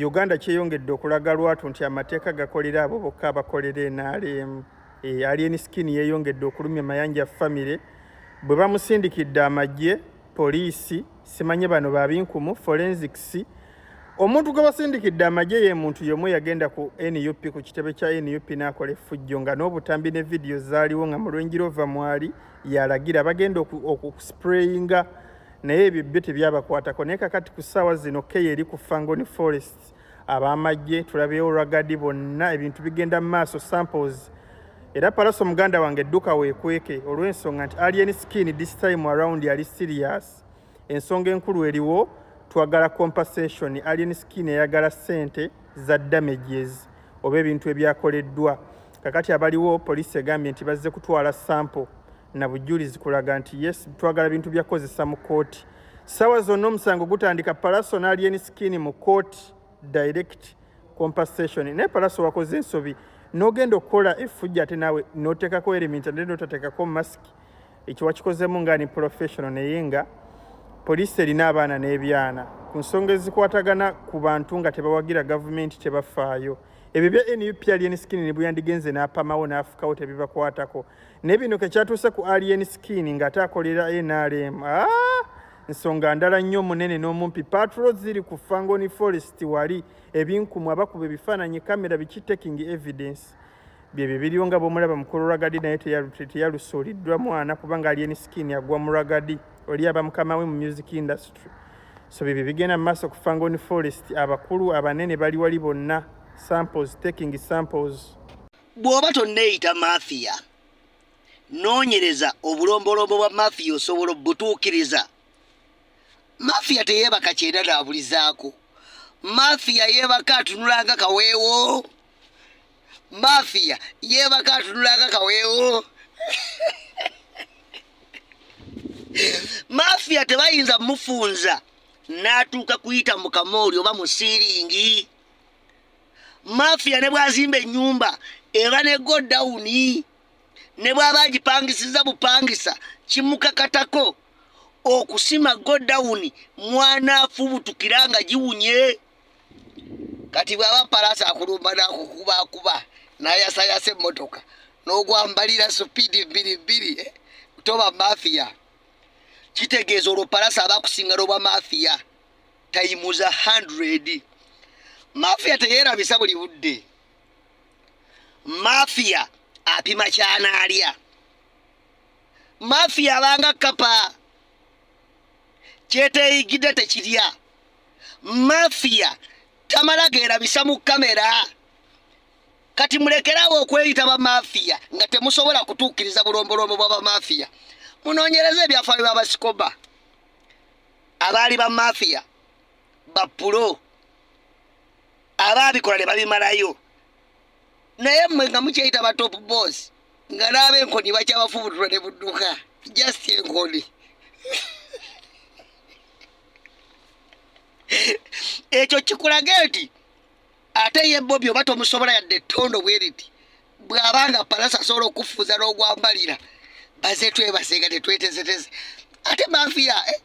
Uganda kyeyongedde okulaga lwatu nti amateeka gakolera abo bokka abakolera NRM. E, Alien Skin yeeyongedde okulumya Mayanja famire bwe bamusindikidde amagye, poliisi, simanye bano babinkumu, forensics. Omuntu gwe basindikidde amagye ye muntu yomu yagenda ku NUP ku kitebe kya NUP n'akola effujjo nga n'obutambi ne vidiyo zaaliwo nga mu lwenjira ova mwali yalagira bagenda okusprayinga naye ebyo byo tebyabakwatako naye kakati ku ssaawa zino keya eri ku fangoni forest abamagye tulabeewo ragadi bonna ebintu bigenda mu maaso samples era palaso muganda wange edduka weekweke olw'ensonga nti alien skin this time around yali serious ensonga enkulu eriwo twagala compensation alien skin eyagala ssente za damages oba ebintu ebyakoleddwa kakati abaliwo poliisi egambye nti bazze kutwala sample na bujulizi kulaga nti yes twagala bintu bya kozesa mu kooti sawa zonna omusango gutandika palaso n'alyeni sikini mu kooti direct compensation naye palaso wakoze ensobi n'ogenda okukola efujja ate naawe n'oteekako erimint ate n'otateekako masiki ekyo wakikozemu nga ni professional naye nga poliisi erina abaana n'ebyana ku nsonga ezikwatagana ku bantu nga tebawagira gavumenti tebafaayo ebyo bya nup alien skin ne bweyandigenze n'apamawo n'afukawo tebibakwatako naye bino kekyatuuse ku alien skin ng'ate akolera nrm ah! nsonga ndala nnyo omunene n'omumpi patro ziri ku fangoni forest wali ebinkumu abakuba ebifaananyi kamera biki taking evidence byebyo biriwo nga bwomulaba mukulu ragadi naye teyalusuuliddwa mwana kubanga alien skin agwa mu ragadi oli aba mukama we mu music industry so byebyo bigenda mu maaso ku fangoni forest abakulu abanene bali wali bonna samples taking samples bw'oba tonneeyita mafiya noonyereza obulombolombo bwa mafiya osobola obutuukiriza mafiya teyeebaka kyenda naabulizaako mafiya yeebaka atunulanga kaweewo mafiya yeebaka atunulanga kaweewo mafiya tebayinza mufunza n'atuuka kuyita mu kamooli oba mu siiringi mafiya ne bwazimba enyumba eba ne go down ne bwaba agipangisiza bupangisa kimukakatako okusima go down mwana afubutukira nga giwunye kati bwaba palasa akulumba nakukuba akuba nayasayasa emotoka nogwambalira supidi bbiri bbiri eh? toba mafiya kitegeeza olwo palasa abakusinga lobwa mafiya tayimuza 100 mafia teyerabisa buli budde mafia apima kyanaalya mafia abanga kapa kyeteyigidde tekirya mafia tamala gerabisa mu kamera kati mulekerawo okweyita bamafiya nga temusobola kutuukiriza bulombolombo bwa bamafiya munoonyereza ebyafaayo bya basikoba abaali ba mafiya bapulo abaabikola ne babimalayo naye mmwe nga mukyeyita ba top boss nga naaba enkoni bakyabafubutula ne budduka just enkoni ekyo kikulaga nti ate ye bobi oba tomusobola yadde ettondo bweriti bw'aba nga palasa asobola okufuuza n'ogwambalira baze twebase nga tetwetesetese ate mafia eh?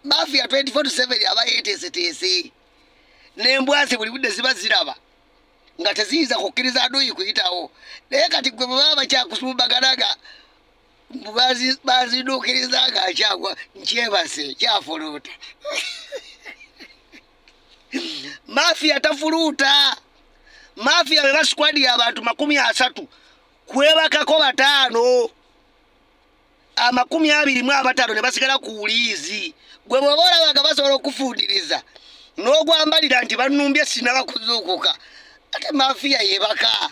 mafia 24/7 aba yeteeseteese n'embwazi buli budde ziba ziraba nga teziyinza kukkiriza aduyi kuyitawo naye kati gwe bwe baba bakyakusumbagana nga baziduukiriza nga akyagwa nkyebase kyafuluuta mafia tafuluuta mafia beba sikwadi ya bantu makumi asatu kwebakako bataano amakumi abiri mu abataano ne basigala ku wuliizi gwe bwoba olabaga basobola okufundiriza n'ogwambalira nti banumbye sinaba kuzuukuka ate mafia yebaka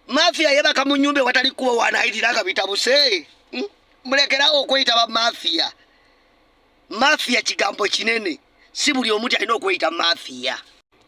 mafia yebaka mu nyumba ewatali kuba wanayitira nga bitabuse hmm? mulekerawo okweyita bamafia Mafia kigambo kinene, si buli omuntu alina okweyita mafia.